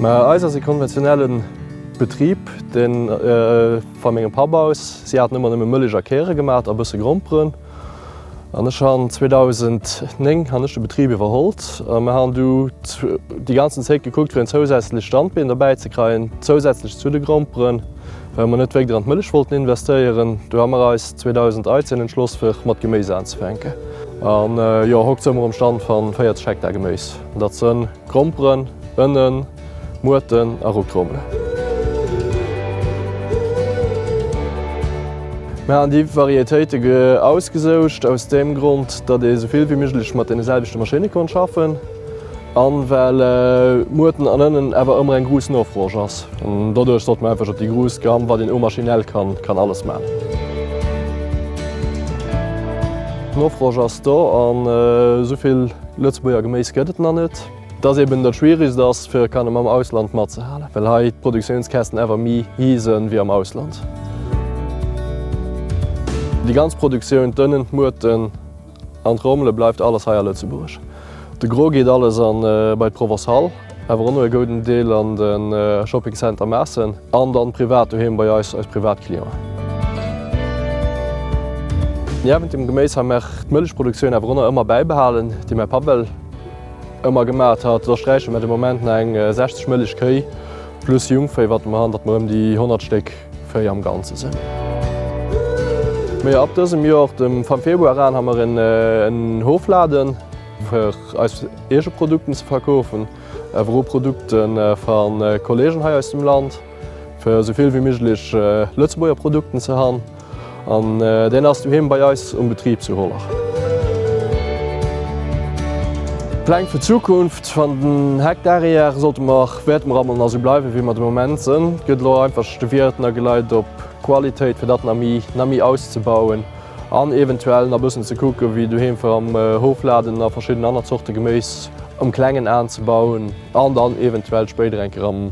Mä eis ass e konventionelle Betrib, dee va mengem Papp aus, si haten ëmmer nëmme Mëllech a Kéiere gemaat a bësse Gromperen. An ech han 2009 han ech de Betrieb iwwerhollt a mer han du déi ganzen Zéit gekuckt fir en zousätzlecht Standbeen derbäi ze kreien, zousätzlech zu de Gromperen, well mer net wéikt an d'Mëllech wollten investéieren. Du ha mer eis 2013 entschloss fir mat Geméis anzefänken. An jo, hokt soe mer um Stand van 40 Hektar Geméis. Dat sen Gromperen, Ënnen. Muerten a Rucktrommelen. Mir haten déi Varietéite ausgesoucht aus deem Grond, datt ee sou vill wéi méiglech mat deene selwechte Maschinne konnt schaffen an well Muerten an Ënnen awer ëmmer eng gruuss Nofrosch ass. Doduerch sollt mer einfach op déi gruuss Gamme, wat een och maschinell kann, kann alles man. D'Nofrosch ass do an sou vill Lëtzebuerger Geméis gëtt et nach net. Dass eben dat schwieregst ass fir e Kanne mam Ausland matzehalen, well hei d'Produktiounskästen awer méi hi sënn wéi am Ausland. Déi ganz Produktioun, d'Ënnen, d'Muerten an d'Rommele bleift alles hei a Lëtzebuerg. De Gros geet alles an bei d'Provençale, awer och no e gouden Deel an de Shopping Center Maassen an dann privat doheem bei eis, eis privat Clienten. Niewent dem Geméis ha mär d'Mëllechproduktioun awer och nach ëmmer bäibehalen, déi mäi Papp well. Ëmmer gemaat hat. Da sträiche mer de Moment na eng 60 mëlleg Kéi plus Jungvéi watte mer an, datt mer ëm déi 100 Stéck Véi am Ganze sinn. Mä jo, ab dësem Jor, dem vam Februar an, ha mer en Hofladen fir eis eege Produkten ze verkoofen, awer o Produkte vam Kollegen hei aus dem Land, fir esou vill wéi méiglech Lëtzebuerger Produkten ze han. An deen ass doheem bei eis um Betrib zu Hollerch. Pläng fir d'Zukunft, Wann den Heck derrière sollte mer wäerte mer emol nach esou bleiwen wéi mer de Moment sënn. Et gëtt elo einfach de Wiert na geleit op Qualitéit fir dat na méi na méi auszebauen an eventuell na bëssen ze kucken wéi doheem fir am Hofladen na verschidden aner Zorte Geméis um klengen aanzebauen an dann eventuell spéider eng Kéier am